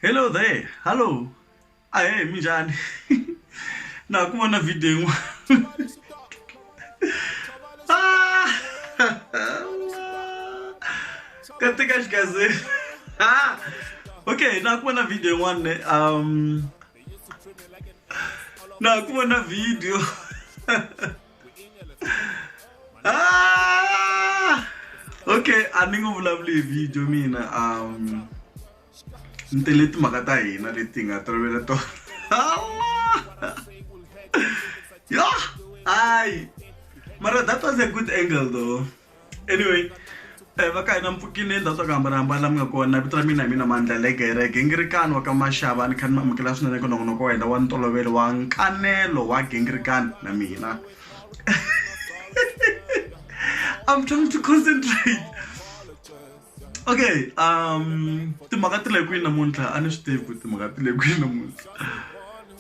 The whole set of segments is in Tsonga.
hello there hallo ahe mi njhani na ha ku vona video yin'wana Ah! katika xikaze Ah! okay na ha ku vona video yin'wana ne um na ha ku vona video Ah! okay a ni nge vulavuli hi video mina um ni tele timhaka ta hina leti nga tolovela tona yo hayi mara that was a good angle though anyway Eh, va ka hina mpfukini endzhaku swa ku hambanahambana la mi nga kona vito ra mina hi mina mandla legereke ngirikani wa ka maxava ni kha ni mi amukela swinene ka nongonoko wa hina wa ntolovelo wa nkanelo wa gingirikani na mina i'm trying to concentrate okay um timhaka ti le kwini namuntlha a ni swi tivi ku timhaka ti le kwini namuntlha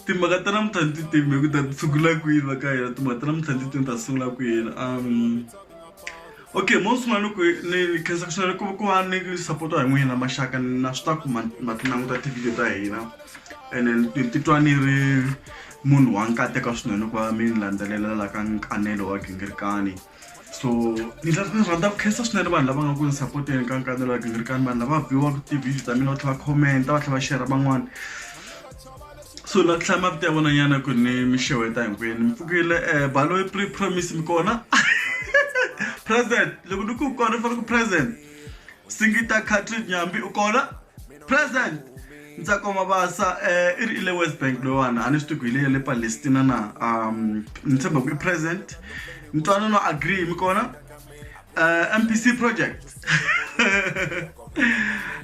timhaka ta namuntlha ni ti timi hi ku ta tshukula kwini va ka hina timhaka ta namuntlha ni ti timi ta sungula kwini um okay mo sungula ni ku ni ni khensa ku swinene ku ku va ni support-wa hi n'wina maxaka na swi ta ku ma ma ti languta tivhidiyo ta hina ene ni ti- titwa ni ri munhu wa nkateka swinene ku va mi ni landzelela la ka nkanelo wa gingirikani so ni ni rhandza ku khensa swinene vanhu lava nga ku ni sapoteni ka nkanelo wa gingirikani vanhu lava viwaka ti-video ta mina va tlhela va commenta va tlhela va shera van'wana so la tlhela mavito ya vonanyana ku ni mi xeweta hinkwenu mi pfukile um baloyi pre promise mi kona present loko ni ku kona ni fanele ku present singita catrid nyambi u kona president ntsakoma basa um i ri i le west bank loyiwani a ni swi tiku hi leya le palestina na um ni tshemba ku i president ntwanano agree mi kona uh, m p c project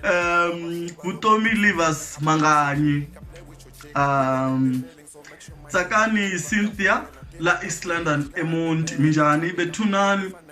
um vutomi livers manganyi um tsakani cynthia la east london emonti minjhani bethunani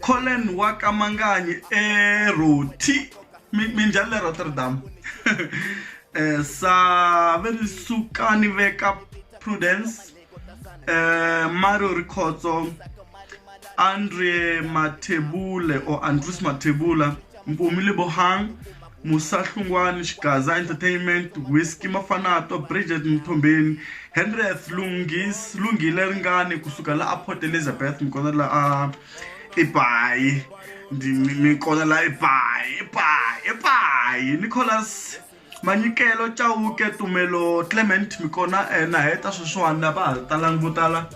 Collen wa ka Manganyi eRoti minjhani le Rotterdam eh, save ni suka ni veka Prudence eh, Mario Rikhotso Andre Mathebule or Andrews Mathebula Mpumi Lebohang Musa Hlungwani, Xigaza Entertainment, Whisky Mafanato, Bridget Mthombeni, Henrieth Lungis, Lungile Ringani kusuka la a Port Elizabeth mi kona la a Ibayi ndi mi kona la Ibayi Ibayi Ibayi Nicholas Manyikelo Chauke Tumelo Clement mi kona na heta sweswiwani lava ha talangi vo tala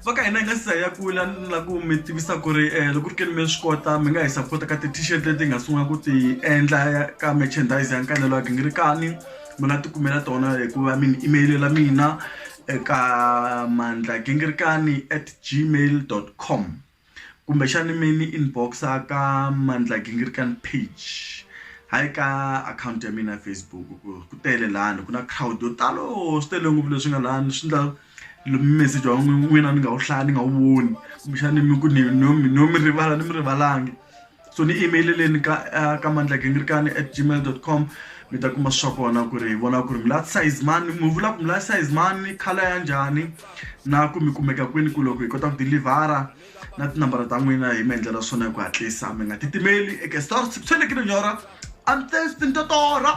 va ka hina hi nga si za ya kula ni la ku mi tivisa ku ri um loko ri keni mi swi kota mi nga hi sapota ka ti-t-shirt leti hi nga sungula ku ti endla ka merchandise ya nkanelo wa gingirikani mi nga ti kumela tona hikuva mi ni emayilela mina eka mandla gingirikani at gmail dot com kumbexani mi ni inbox-a ka Mandla Gingirikani page hayi ka akhawunti ya mina ya Facebook ku ku tele lani ku na crowd yo talo swi tele ngopfu leswi nga lani swi ndla meseji wa n'wina ni nga wu hlaya ni nga wu voni kumbexani mi ku ni no mi no mi rivala ni mi rivalangi. so ni email-eleni ka uh, ka mandlakengirikani at gmail dot com mi ta kuma swa kona ku ri hi vona ku ri mi la size mani mi vula ku mi la size mani khala ya njhani na ku mi kumeka kwini ku loko hi kota ku dilivhara na tinambara ta n'wina hi mi endlela swona hi ku hatlisa mi nga titimeli eke star swi fanekele nyora a ni testi ni totora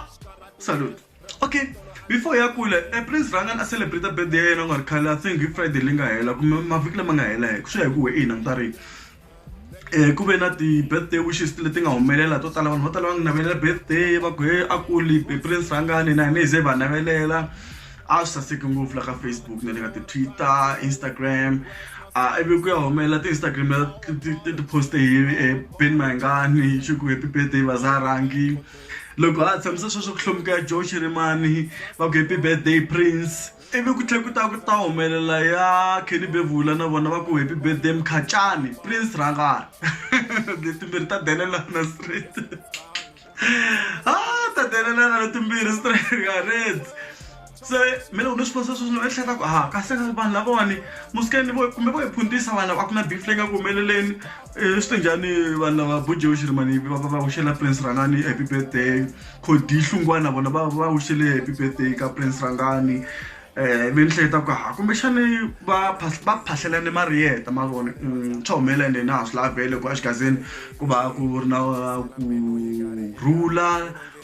salute okay before ya kule eh, please rhanga na celebrate birthday ya yena u nga ri khale i think hi friday leyi nga hela kumbe mavhiki lama nga hela hi swi ya hi ku we i languta rini um ku ve na ti-birthday wishes leti nga humelela to tala vanhu vo tala va nga navelela birthday va ku he a kuli prince rhangani na hina hi ze va navelela a swi saseki ngopfu la ka facebook na le ka ti-twitter instagram a ivi ku ya humelela ti-instagram ti-poste hi eh, ben mayengani xi ku happy birthday vazarangi loko a tshamisa sweswo ku hlomuka ya joe xirimani va ku happy birthday prince ivi ku tlhe ku ta ku ta humelela ya kenny bevula na vona va ku happy birthday mkhacani prince rangani letimbirhi ta denelana street a ta denelana letimbirhi street garets se mina loko ni swi vonisa sweswi ni ehleketa ku ha kasi vanhu lavawani musikeni vo kumbe vo hi phuntisa vanhu a ku na beef leyi nga ku humeleleni um swi te njhani vanhu lava bujewu xirimani va va wuxela prince rangani happy birthday khodi hlungwana vona va va wuxele happy birthday ka prince rangani um ve ni hleketa ku ha kumbexani va va phahlelane mariyeta ma vona swa humelela ende na ha swi lavele ku exigazini ku va ku ri na ku rhula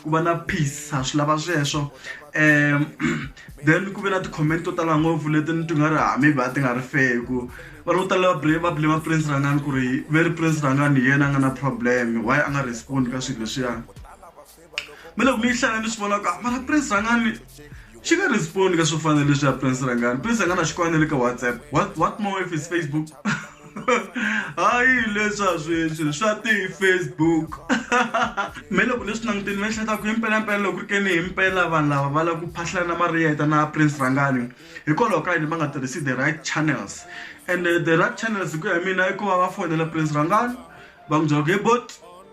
ku va na peace ha swi lava sweswo um then ku ve na ti-comment to tala ngopfu leti ni ti nga ri hami va ti nga ri feku vanhu vo tala va blame prince rangani ku ri ve ri prince rangani hi yena a nga na problem why a nga respond ka swilo leswiya me loko mi yi hlaya ni swi vona ku a mara prince rangani xi nga respond ka swo fana leswi ya prince rangani prince rangani a xi kwana le ka whatsapp what, what more if is facebook hayi leswa sweswi swa ti-facebook me loko leswi languteni mi ehleketa ku impelampela loko ri ke ni hi mpela vanhu lava va lava ku phahlana na mariyeta na prince rangani hikwalaho ka yini va nga tirhisi the right channels and uh, the right channels hi ku ya mina i ku va va fonela prince rangani va n'wi byela ku he bot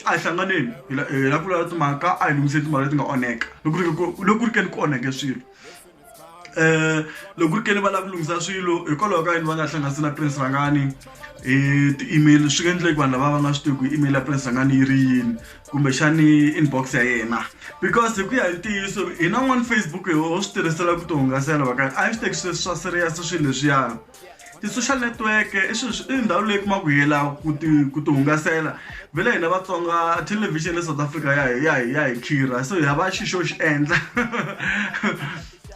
a hi hlanganeni hi la hi la ku lava timhaka a hi lunghiseni timhaka leti nga onheka loko ri ku- loko ku ri ke ni ku onheke swilo eh loko ku ri ke ni va lava ku lunghisa swilo hikwalaho ka yini va nga hlanganisi na prince rangani hi ti-email swi nga endleki vanhu lava va nga swi tivi ku email ya prince rangani yi ri yini kumbexani inbox ya yena because hi ku ya hi ntiyiso hina n'wani facebook hi ho swi tirhisela ku ti hungasela va ka a hi swi teki swi swa serious swilo leswiyani ti-social network i swilo i ndhawu leyi kuma ku yela ku ti ku ti hungasela vhele hina vatsonga television le south africa ya hi ya hi ya hi khirha so hi hava xi xo xi endla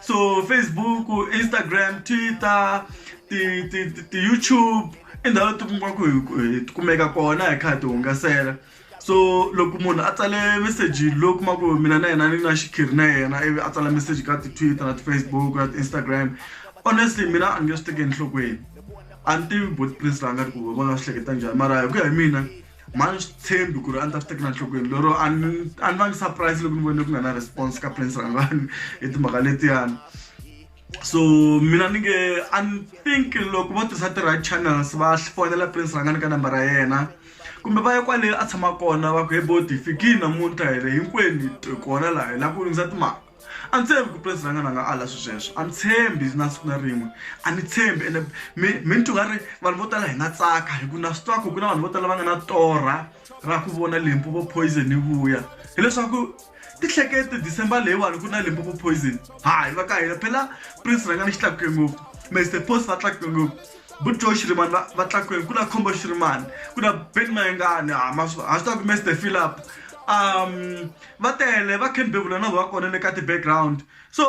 so facebook instagram twitter ti ti ti-youtube i ndhawu leti kumaka ku hi ti kumeka kona hi kha hi ti hungasela so loko munhu a tsale meseji lowu kuma ku mina na yena ni na xikhiri na yena ivi a tsala meseji ka ti-twitter na ti-facebook na ti-instagram honestly mina a ni nge swi teki enhlokweni a ni tivi bot prince la nga ri ku va nga swi hleketa njhani mara hi ku ya hi mina mhani swi tshembi ku ri a ni ta swi tekela nhlokweni lero a ni a ni va ni surprise loko ni vone ku nga na response ka prince rangwani hi timhaka letiyani so mina ni nge i think loko vo tirhisa ti-right channels va fonela prince rhangani ka nambara ya yena kumbe va ya kwale a tshama kona va ku he boti fikini namuntlha hi ri hinkwenu hi kona laha hi lava ku lunghisa timhaka a ni tshembi ku prince rhangani a nga ala swi sweswo a ni tshembi na siku na rin'we a ni tshembi ene mi mi ni tungari vanhu vo tala hi nga tsaka hi ku na swi twa ku ku na vanhu vo tala va nga na torha ra ku vona limpopo poison yi vuya hileswaku tihlekete december leyiwani ku na limpopo poison hayi va ka hina phela prince rhanga ni xi tlakuke ngopfu mr post va tlakuke ngopfu bujo xirimani va va tlakukeni ku na khombo xirimani ku na ben mayengani ha ma swi ha swi tiva ku mr philip um va tele va ken bevula na vona va kona le ka ti-background so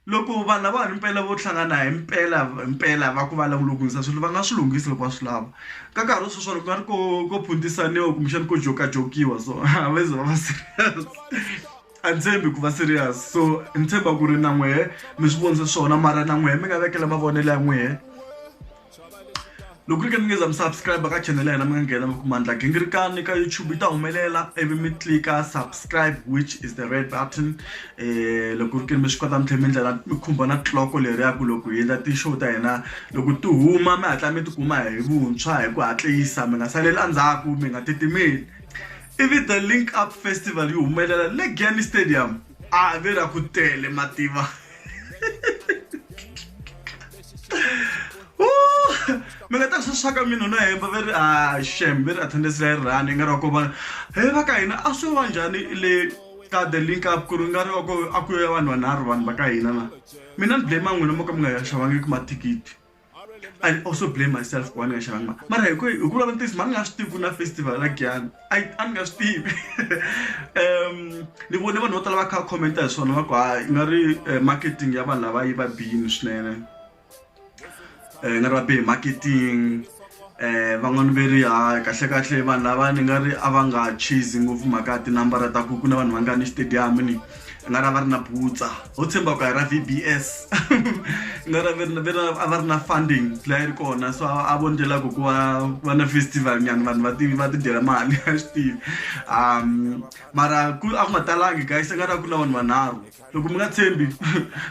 Loko vanhu lava himpela vo hlangana himpela himpela va ku va lava ku lunghisa swilo va nga swi lunghisi loko va swi lava ka nkarhi wa sweswiwani ku nga ri ko ko phuntisaniwa kumbexani ko jokajokiwa so a va ze va va serious a ni tshembi ku va serious so ni tshemba ku ri na n'wehe mi swi vonisa swona mara na n'wehe mi nga vekela mavonelo ya n'wehe. loko ri ke mi nge za mi subscribe ka channel ya hina mi nga nghena mi kuma ndla gingirikani ka youtube yi ta humelela ivi mi tlika subscribe which is the red button um loko ri ke mi swi kota mi tlhela mi ndlela mi khumba na tliloko leri ya ku loko hi endla ti-show ta hina loko ti huma mi hatla mi tikuma hi vuntshwa hi ku hatlisa mi nga saleli endzhaku mi nga titimeli ivi the link up festival yi humelela le gani stadium a ve ra ku tele mativa mi nga ta swi swa ka mina na hemba va ri a ah, shem va ri attendance leyi rhani yi nga ri wa ku va he va ka hina a swi va njhani le ka the link up ku ri nga ri wa ku a ku ya vanhu vanharhu vanhu va ka hina na mina ni blame n'wina mo ka mi nga ya xavangiki mathikithi i also blame myself ku va ni nga xavangi mara hi ku hi ku vula ntiyiso mani nga swi tivi ku na festival la giyani a a ni nga swi tivi um ni vone vanhu vo tala va kha va commenta hi swona va ku ha i nga ri eh, marketing ya vanhu lava yi va bini swinene um nga ri va bihi marketing um van'wani ve ri ha kahle kahle vanhu lava ni nga ri a va nga chase ngopfu mhaka ya tinambara ta ku ku na vanhu va nga ni xitediyamu ni na ra va ri na butsa ho tshemba ku a hi ra vbs na ra a va ri na funding laha ri kona so a vo ndlela ku ku va va na festival nyana vanhu va ti va ti dyela mali a swi tivi um mara ku a ku nga talangi guys a nga ri ku na vanhu vanharhu loko mi nga tshembi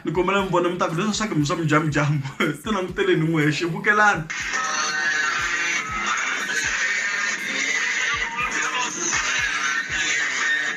ni kombela mi vona mi ta ku leswi swa ku mi swa mujamujamu ti languteleni n'wexe vukelani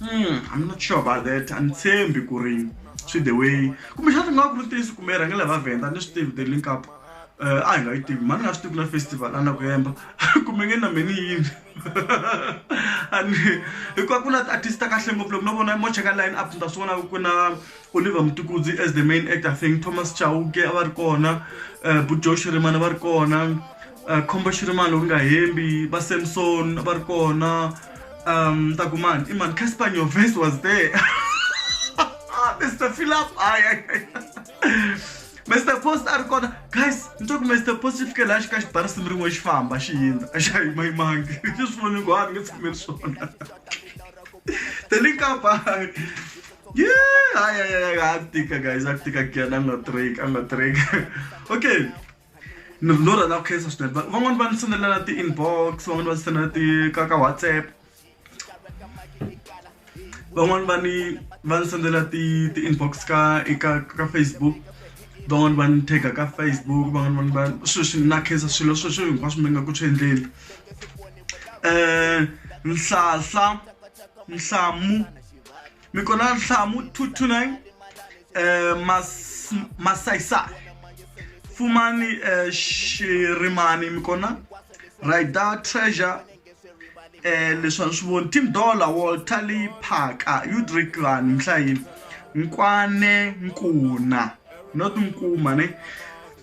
Hmm, I'm not sure about that. I'm saying Bikurin, see the way. Kumbe xana nga ku tirisi kumbe rhange lava venda ni swi tivi the link up. Uh, a hi nga yi tivi mani nga swi tivi na festival a na ku yemba kumbe nge na meni yini ani hikuva ku na ti-artist ta kahle ngopfu loko no vona mo cheka line up ni ta swi vona ku na oliver mutukudzi as the main actor thing thomas chauke a va ri kona um eh, bujosh rimana va ri kona khombo xi ri mani loko ni nga hembi va samson va ri kona um ta ku mani i mani casper nyoves was there mr philip ay mr post a ri kona guys ni twa ku mr post xi fike laha xi ka xi bara simu rin'we xi famba xi yindza a xa yima yimangi xi swi voni ku ha ni nge tshameli swona te ni nkapa ye hayi hayi hayi a ku tika guys a ku tika kuyana a nga trek a nga trek okay ni ri no rhandza ku khensa swinene va van'wani va ni sendela na ti-inbox van'wani va ni sendela ti ka ka whatsapp van'wani va ni va ni sendela ti ti-inbox ka eka ka facebook van'wani va ni tag-a ka facebook van'wani va ni va sweswi na khensa swilo sweswo hinkwaswo mi nga ku swi endleni um nhlahla nhlamu mi kona nhlamu two two nine eh, mas, masaisa fumani eh, xirimani mi kona rider treasure eh, leswi a ni swi voni tim dollar walter lee phaka udrik vanhu mihlayini nkwane nkuna not nkuma ne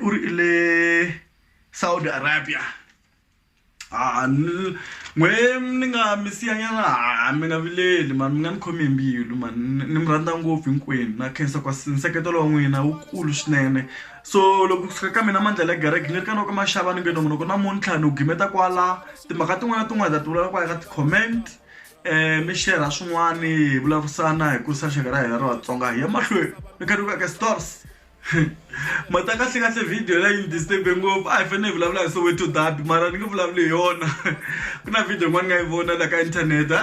u ri i le Saudi Arabia ha ni n'we ni nga mi siya nyana ha mi nga vileli mara mi nga ni khomi hi mbilu mani ni mi rhandza ngopfu hinkwenu na khensa ka nseketelo wa n'wina wu kulu swinene so loko ku fika ka mina mandlhela ya gereke ni ri ka noko maxava ni nge no munoko namuntlha ni wu gimeta kwala timhaka tin'wana na tin'wana hi ta ti vulavula kwala ka ti-comment mi share-ra swin'wani hi vulavurisana hi kurisa rixaka ra hina ra Vatsonga hi ya mahlweni ni kha ni ku veka stores. mata kahle kahle video la yi disturbe ngopfu a hi fanele hi vulavula hi soweto dabi mara ni nge vulavuli hi yona ku na video yin'wana ni nga yi vona la ka inthanete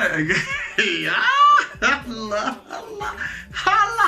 hala